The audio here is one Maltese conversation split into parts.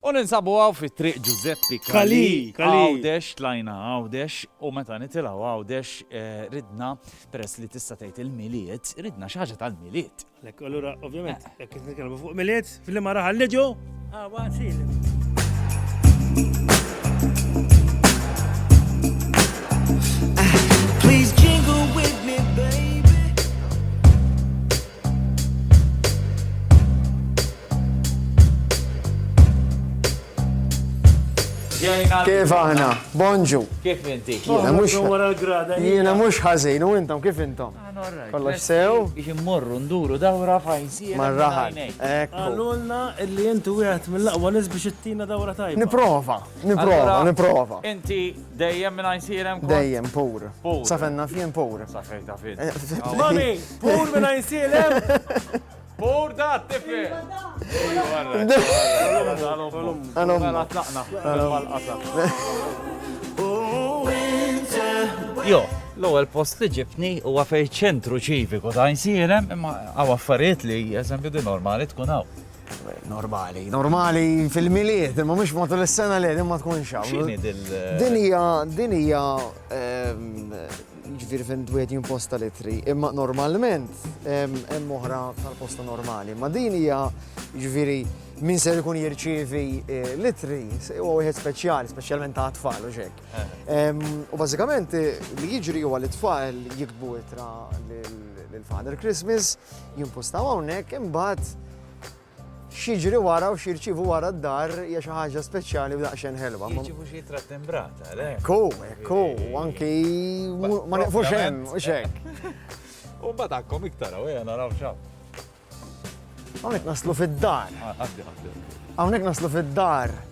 U ninsabu hawn fi Triq Ġużeppi Calì, Għawdex, tlajna Għawdex u meta nitilgħu Għawdex ridna, peress li tista' tgħid il-Milied, ridna xi ħaġa tal-Milied. Għalhekk, allura ovvjament jekk qed nitkellmu fuq Milied, f'liema raħal niġu? Ħa nsir. Kif aħna? Bonġu. Kif inti? Jiena mhux ħażin u intom kif intom? Kollox sew? Biex immorru nduru dawra fajsi. Marraħal. Għalulna li inti wieħed mill-aqwa nies biex ittina dawra tajba. Niprova, niprova, niprova. Inti dejjem minn għajsirem? Dejjem pur. Safenna fien pur. Safejta fien. Eh, Mami! Pur minna jinsilem! Pur da, tifi! Għalum, għatlaqna, Jo, l-ewwel post li ġibni huwa fejn ċentru ċiviku ta' insirem imma għaw affarijiet li eżempju di normali tkun hawn. Normali, normali fil-miliet, imma mhux matul is-sena li imma tkun xaw. Din hija din hija ehm, jiġifieri fejn wieħed jimposta l-ittri, imma normalment hemm oħra tal-posta normali. Ma din hija jiġifieri min ser ikun jirċievi eh, l-ittri huwa wieħed speċjali, speċjalment ta' tfal u xek. U bażikament eh, li jiġri huwa li tfal jikbu ittra lil Father Christmas, jimpostaw hawnhekk imbagħad X'jiġri wara u x'jirċievu wara d-dar hija xi ħaġa speċjali u daqsxejn ħelwa. Jiġibu xi jitra timbrata, le? Ku, ku, anki ma neqfux hemm, u xek. U mbagħad għakkom iktar għawja naraw xaw. Hawnhekk naslu fid-dar. Ah, Hawnhekk naslu fid-dar.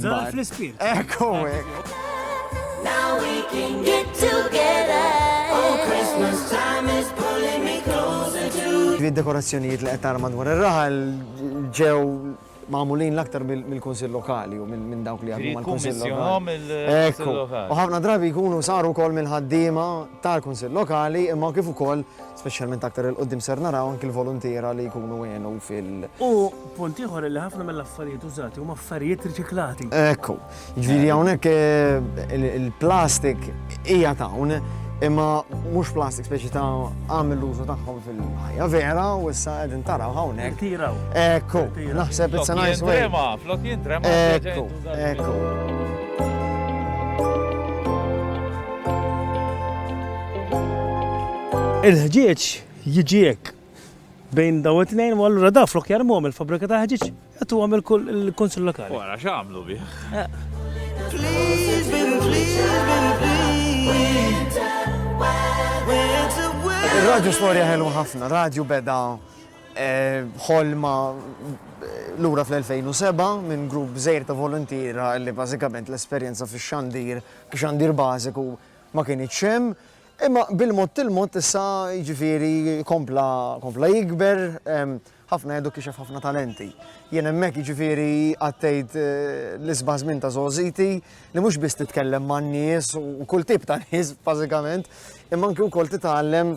Zar fl-ispirt. Ekku. Now we can get together. Oh, Christmas time is pulling me closer to you. Dekorazzjonijiet li qed tara madwar ir-raħal ġew magħmulin l-aktar mill-Kunsill Lokali u minn dawk li għadhom mal-Kunsill Lokali. U ħafna drabi jkunu saru wkoll mill-ħaddiema tal-Kunsill Lokali imma kif ukoll Speċjalment aktar 'il quddiem ser naraw anki l-voluntiera li jkunu għenu fil-. U punt ieħor li ħafna mill-affarijiet użati huma affarijiet riċiklati. Ekku. Jiġifieri hawnhekk il-plastik hija t'hawn imma mhux plastik speċi ta' għamel l-użu tagħhom fil-ħajja vera u issa qegħdin taraw hawnhekk. Tiraw. Ekku. Naħseb it's a nice way. Jintrema, flok jintrema. Ekku. Il-ħġieġ jiġi hekk bejn daw it-tnejn u allura da flok jarmuhom il-fabrika ta' ħġieġ qed huwa mill-kunsil lokali. Wara x'għamlu bih. Il-radju storja ħelu ħafna, radju beda ħolma lura fl-2007 minn grupp żgħir ta' voluntiera li bażikament l-esperjenza fix-xandir, xandir bażiku, ma kinitx hemm. Imma bil-mod il-mod issa jiġifieri kompla kompla jikber, ħafna għedu kixef ħafna talenti. Jien hemmhekk jiġifieri għaddejt l-isbaħ żmien ta' żgħożiti li mhux biss titkellem man-nies u kull tip ta' nies bażikament, imma anki wkoll titgħallem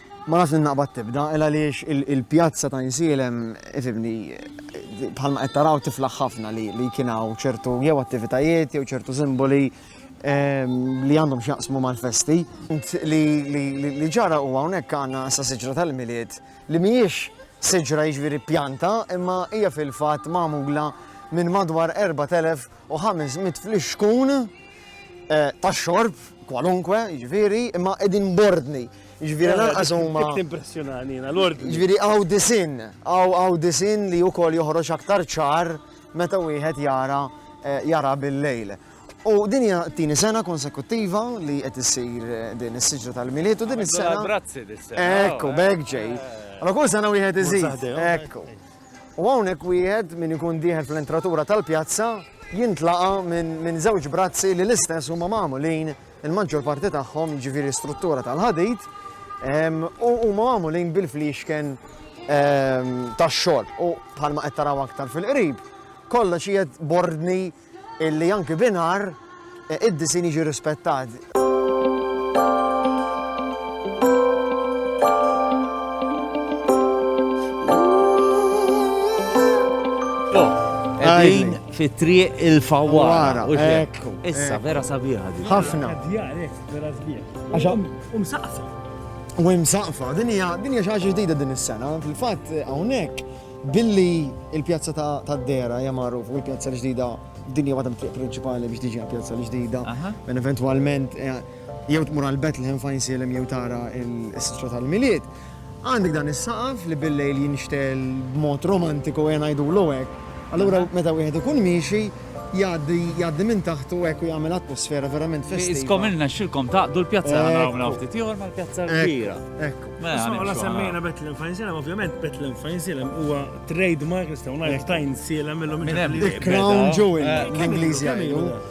Ma nafx li naqbad tibda, il għaliex il-pjazza ta' Insielem, ifimni, bħalma qed taraw tiflaħ ħafna li kien hawn ċertu jew attivitajiet jew ċertu simboli Ehm, li għandhom xjaqsmu mal-festi. Li ġara u għawnek għanna sa siġra tal-miliet li miex siġra iġviri jiġifieri pjanta imma hija fil-fat mamula minn madwar 4500 fl-xkun eh, ta' xorb kwalunkwe iġviri jiġifieri, imma edin bordni Ġviri lanqas huma. Impressjonani jiena l-ordni. Ġviri għaw disin, għaw għaw disin li wkoll joħroġ aktar ċar meta wieħed jara eh, jara bil-lejl. U din hija tieni sena konsekuttiva li qed issir eh, din is-siġra tal-miliet u din is-sena. Brazzi dis-sena. Ekku, oh, bek ġej. Eh. Allora kull sena wieħed iżid. Ekku. U hawnhekk wieħed min ikun dieħel fl-entratura tal-pjazza jintlaqa minn żewġ brazzi li l-istess huma magħmulin Il-maġġor parti tagħhom, jiġifieri struttura tal-ħadid, u huma magħmulin bil-fliexken tax-xogħol. U bħalma qed taraw aktar fil-qrib, kollox qiegħed bordni illi anki binar e, id-disin jiġi rispettat. Għajn, Fit-triq il-fawwara. u xek. Issa, vera sabiħa di. Ħafna. Għaxa. U msaqfa. U msaqfa. Din hija din hija xi ħaġa ġdida din is-sena. Fil-fatt hawnhekk billi il-pjazza ta' Dera hija magħruf u l-pjazza l-ġdida din hija waħda mit-triq prinċipali biex tiġi pjazza l-ġdida. Minn eventwalment eh, jew tmur għal Bethlehem fajn silem jew tara il-sitra tal-miliet. Għandek dan is-saqaf li bil-lejl jinxtegħel b'mod romantiku ejja ngħidulu hekk. Allura meta wieħed ikun miexi jgħaddi jgħaddi minn taħtu hekk u jagħmel atmosfera verament festiva. Iskom ilna xilkom taqdu l-pjazza naraw minn hawn ftit ieħor mal-pjazza l-kbira. Hekk. Mela nimxu. Semmejna Bethlehem Fine Salem, ovvjament Bethlehem Fine Salem huwa trademark nistgħu ngħidu tajn sielem illum. Minn hemm. Crown Jewel l-Ingliżi jgħidu.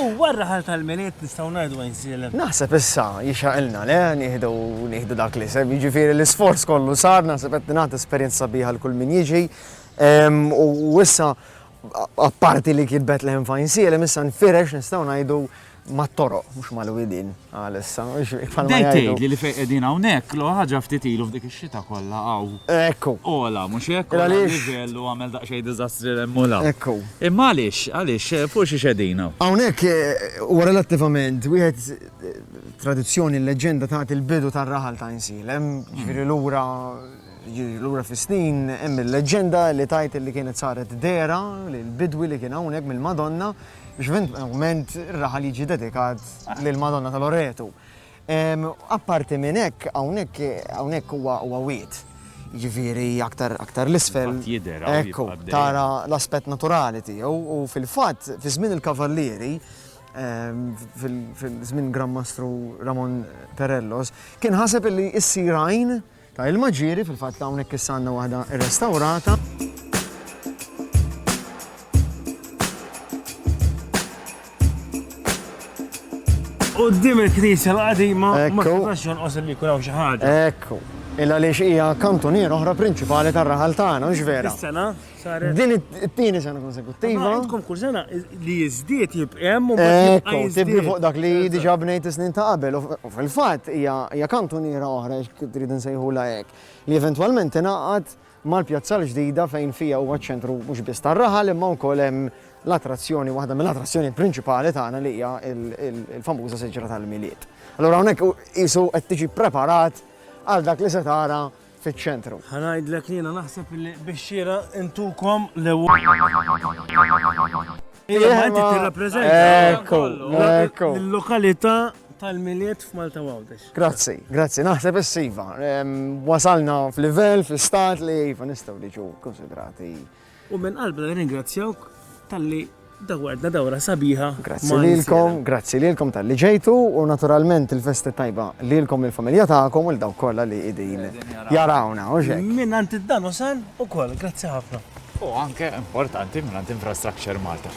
U r-raħal tal-Milied nistgħu ngħidu għajn sielem? Naħseb issa jixraqilna, le, nieħdu, nieħdu dak l-isem, jiġifieri l-isforz kollu sar, naħseb qed tingħata esperjenza sabiħa 'l kull min jiġi. U issa apparti li kitbet l-hemm f'għajn sielem, issa nfirex nistgħu ngħidu mat-toroq, mhux mal-widien. Għalissa, mhux hekk bħalma Bdejt jgħidu. tgħidli li fejn qegħdin hawnhekk, l-ogħla ħaġa ftit ilu f'dik ix-xita kollha hawn Ekku. ogħla, mhux hekk? Għala Ogħla għaliex? l-livell u għamel daqsxejn diżastri 'l hemm u 'l hawn. Ekku. Imma għaliex, għaliex, fuq xiex qegħdin hawn? Hawnhekk huwa relattivament wieħed tradizzjoni l-leġġenda tagħti l-bidu tar-raħal ta' Għinsielem, jiġifieri lura jiġifieri lura fis-snin hemm il-leġġenda li tgħid li kienet saret dehra lil bidwi li kien hawnhekk mill-Madonna, X'b'inqment ir-raħal jiġi dedikat lill-Madonna ta' Loretu. Apparti minn hekk, hawnhekk hawnhekk huwa huwa wied. Jiġifieri aktar aktar l-isfel. Fil-fatt jidher hawn Ekku, jibqa' dejjem. tara l-aspett naturali tiegħu u fil-fatt fi żmien il-Kavallieri, ehm, fil- fil-żmien Gran Mastru Ramon Perellos, kien ħaseb illi issir għajn Ta' ilma ġieri, fil-fatt hawnhekk issa għandna waħda rrestawrata. Qoddim il-knisja l-qadima ma tistax jonqos li jkun hawn xi ħaġa. Ekku. Illa li xija kantunier oħra prinċipali tar-raħal tagħna, mhux vera. Is-sena? Din it-tieni sena konsekuttiva. Għandkom kull sena li jiżdied jibqa' hemm u Ekku, tibni fuq dak li diġà bnejt is-snin ta' qabel. U fil-fatt hija kantuniera oħra trid insejħulha hekk, li eventwalment tingħaqad mal-pjazza l-ġdida fejn fiha huwa ċ-ċentru mhux biss tar-raħal imma wkoll hemm l-attrazzjoni, waħda mill-attrazzjonijiet prinċipali tagħna li hija l-famuża siġra tal-Milied. Allura hawnhekk qisu qed tiġi ppreparat għal dak li se tara fiċ-ċentru. Ħa ngħidlek li jiena naħseb li bix-xieraq intukom l-ewwel. Imma inti tirrappreżenta l-lokalità tal-Milied f'Malta Għawdex. Grazzi, grazzi. Naħseb is-siva. Wasalna f'livell, fl-istat li iva nistgħu niġu konsidrati U minn qalbna nirringrazzjawk talli dawwartna dawra sabiħa ma' insieme. Grazzi lilkom, grazzi lilkom talli ġejtu u naturalment il-festa t-tajba lilkom, lill-familja tagħkom u 'l dawk kollha li qegħdin jarawna, hux hekk? Mingħand id-Danusan ukoll, grazzi ħafna. U anke, importanti, mingħand Infrastructure Malta.